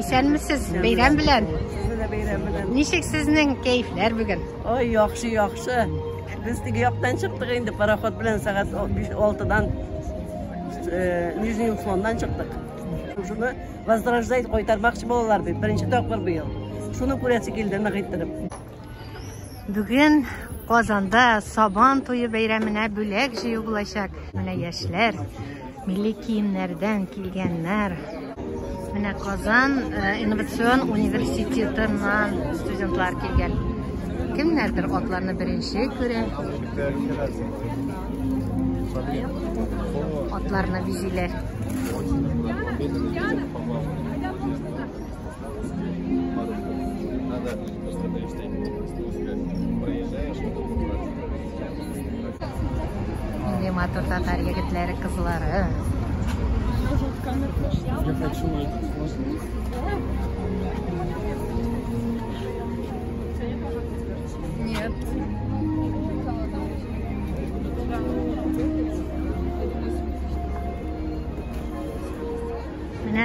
Исәнмесез, бәйрәм белән. Сезне дә бәйрәм белән. Ничек сезнең кәефләр бүген? Ой, яхшы, яхшы. Без теге яктан чыктык инде пароход белән сәгать 6-дан э, Нижний Услондан чыктык. Шуны возрождать кайтармакчы балалар бит. Беренче тапкыр быел. Шуны күрәсе килде нык иттереп. Бүген Казанда Сабан туе бәйрәменә бүләк җыю булачак. Менә яшьләр Милли киемнәрдән килгәннәр. Менә Казан э, инновацион университетыннан студентлар килгән. Кемнәрдер атларны беренче күрә. Атларны бизиләр. Нинди матур татар егетләре, кызлары. Я хочу найти сложность. Нет. Менә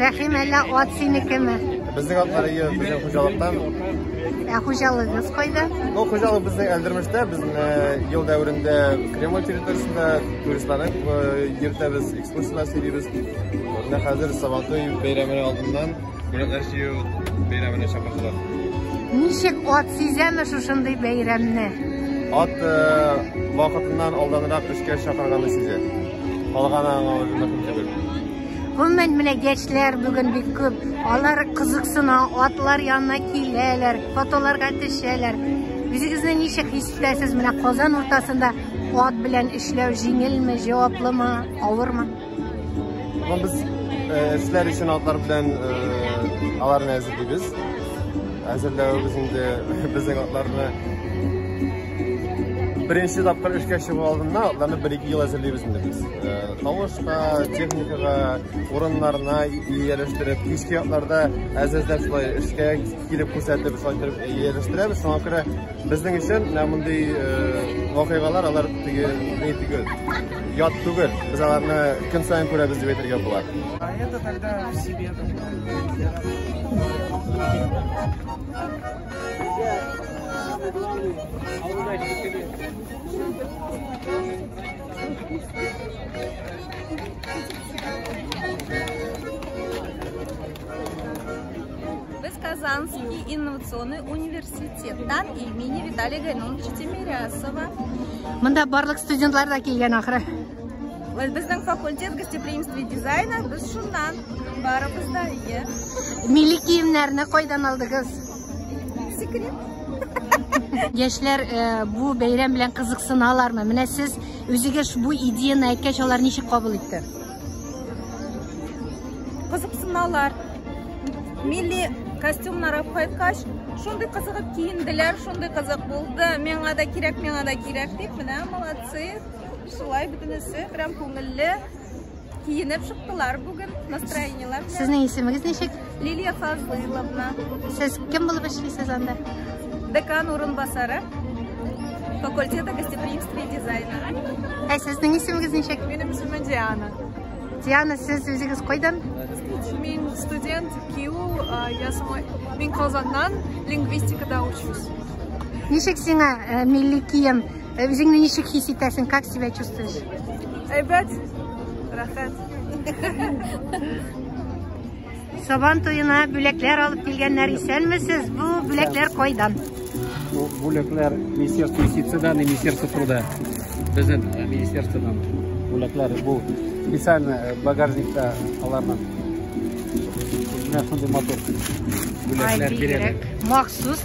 Рәхим, әллә ат синекеме? Безнең атлар ие, безнең хуҗалыктан. Ә хуҗалыгыз кайда? Ну, хуҗалык безнең Әлдермештә, безнең э, ел дәверендә Кремль территориясендә туристларны э, йөртәбез, экскурсияләр сөйлибез. Менә хәзер Сабантуй бәйрәме алдыннан бүләкләр сөю бәйрәменә чакырдылар. Ничек ат сизәме шушындый бәйрәмне? Ат э, вакытыннан алданрак эшкә чакырганны сизә. Калган аңа үзенә күңел. Гомумән, менә яшьләр бүген бик күп. Алар кызыксына, атлар янына киләләр, фотоларга төшәләр. Үзегезне ничек хис итәсез? Менә Казан уртасында ат белән эшләү җиңелме, җаваплымы, авырмы? Ну, без э, эшләр өчен атлар белән э, аларны әзерлибез. Әзерләвебез инде безнең атларны беренче тапкыр эшкә чыгу алдында атларны бер-ике ел әзерлибез инде без. Тавышка, техникага, урыннарына ияләштереп, кичке якларда әзәздә шулай эшкә килеп күрсәтеп, шулай торып ияләштерәбез. Шуңа күрә безнең өчен менә мондый вакыйгалар алар теге ни түгел. Ят түгел. Без аларны көн саен күрәбез дип әйтергә була. Это тогда в себе. Thank you. Казанский инновационный университеттан имени Виталия Гайнуловича Тимирясова. Мында барлык студентлар да килгән ахры. Безнең факультет гостеприимства и дизайна без шуннан барыбыз да ие. Милли киемнәрне кайдан алдыгыз? Яшьләр э, бу бәйрәм белән кызыксыналармы? Менә сез үзегез бу идеяны әйткәч, алар ничек кабул итте? Кызыксыналар. Милли костюмнар алып кайткач, шундый кызыгып киенделәр, шундый кызык булды. Миңа да кирәк, миңа да кирәк дип, менә молодцы. Шулай бөтенесе прям күңелле. Киенеп чыктылар бүген настроениеләр. Сезнең исемегез ничек? Лилия Фазлыйловна. Сез кем булып эшлисез анда? Декан урынбасары факультета гостеприимства и дизайна. Ә сезнең исемегез ничек? Минем исемем Диана. Диана, сез үзегез кайдан? Мин студент КИУ, я сама мин Казаннан, лингвистикада учусь. Ничек сиңа э, милли кием Ә үзеңне ничек хис итәсең? Как себя чувствуешь? Әйбәт. Рәхәт. Сабан туена бүләкләр алып килгәннәр исәнмесез. Бу бүләкләр кайдан? Бу бүләкләр Министерство юстициядә, Министерство труда. Безнең э, министерстводан бүләкләр бу специально э, багажникта аларның. Менә шундый мотор. Бүләкләр бирәләр. Махсус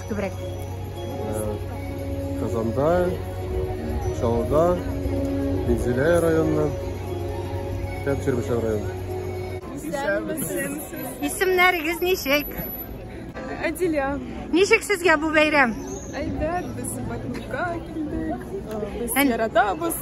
Күбрәк. Казанда, Чаллыда, Минзилә районына, һәм Чирмешән районы. Исемнәрегез ничек? Әдилә. Ничек сезгә бу бәйрәм? Әйдәт, без Батмирга килдек. Без яратабыз.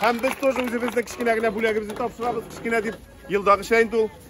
Һәм без тоже үзебезнең кечкенә генә бүләгебезне тапшырабыз, кечкенә дип елдагыча инде ул.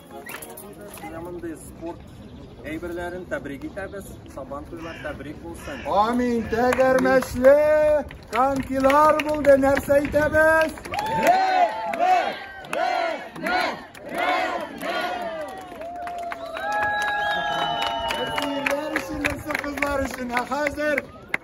Менә спорт әйберләрен тәбрик итәбез. Сабан туйлар тәбрик булсын. Амин. Тәгәрмәчле конкилар булды. Нәрсә әйтәбез? Рәхмәт! Рәхмәт! Рәхмәт! Әтиләр өчен, нәрсә кызлар өчен. Ә хәзер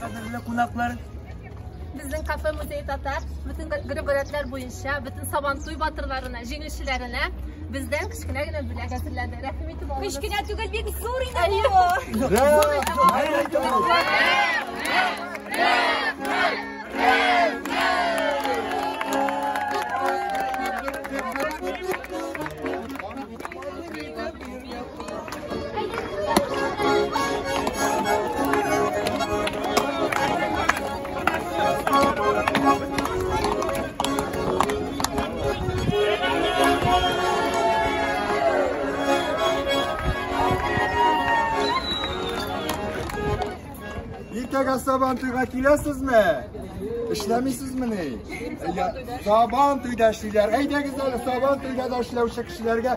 Кадерле кунаклар, безнең кафе музей татар бөтен гөрбәләтләр буенча бөтен сабантуй батырларына җиңүчеләренә бездән кечкенә генә бүләк әзерләде рәхим итеп алыгыз кечкенә түгел бик зур иде Иртәгә сабан туйга киләсезме? Эшләмисезмени? Сабан туйда эшлиләр. Әйдәгез әле сабан туйда да эшләүче кешеләргә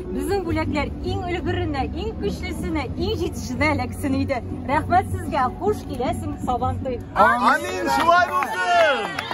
Безнең бүләкләр иң өлгеренә, иң көчлесенә, иң җитешенә эләксен иде. Рәхмәт сезгә, хуш киләсең Сабантуй. Амин, шулай булсын!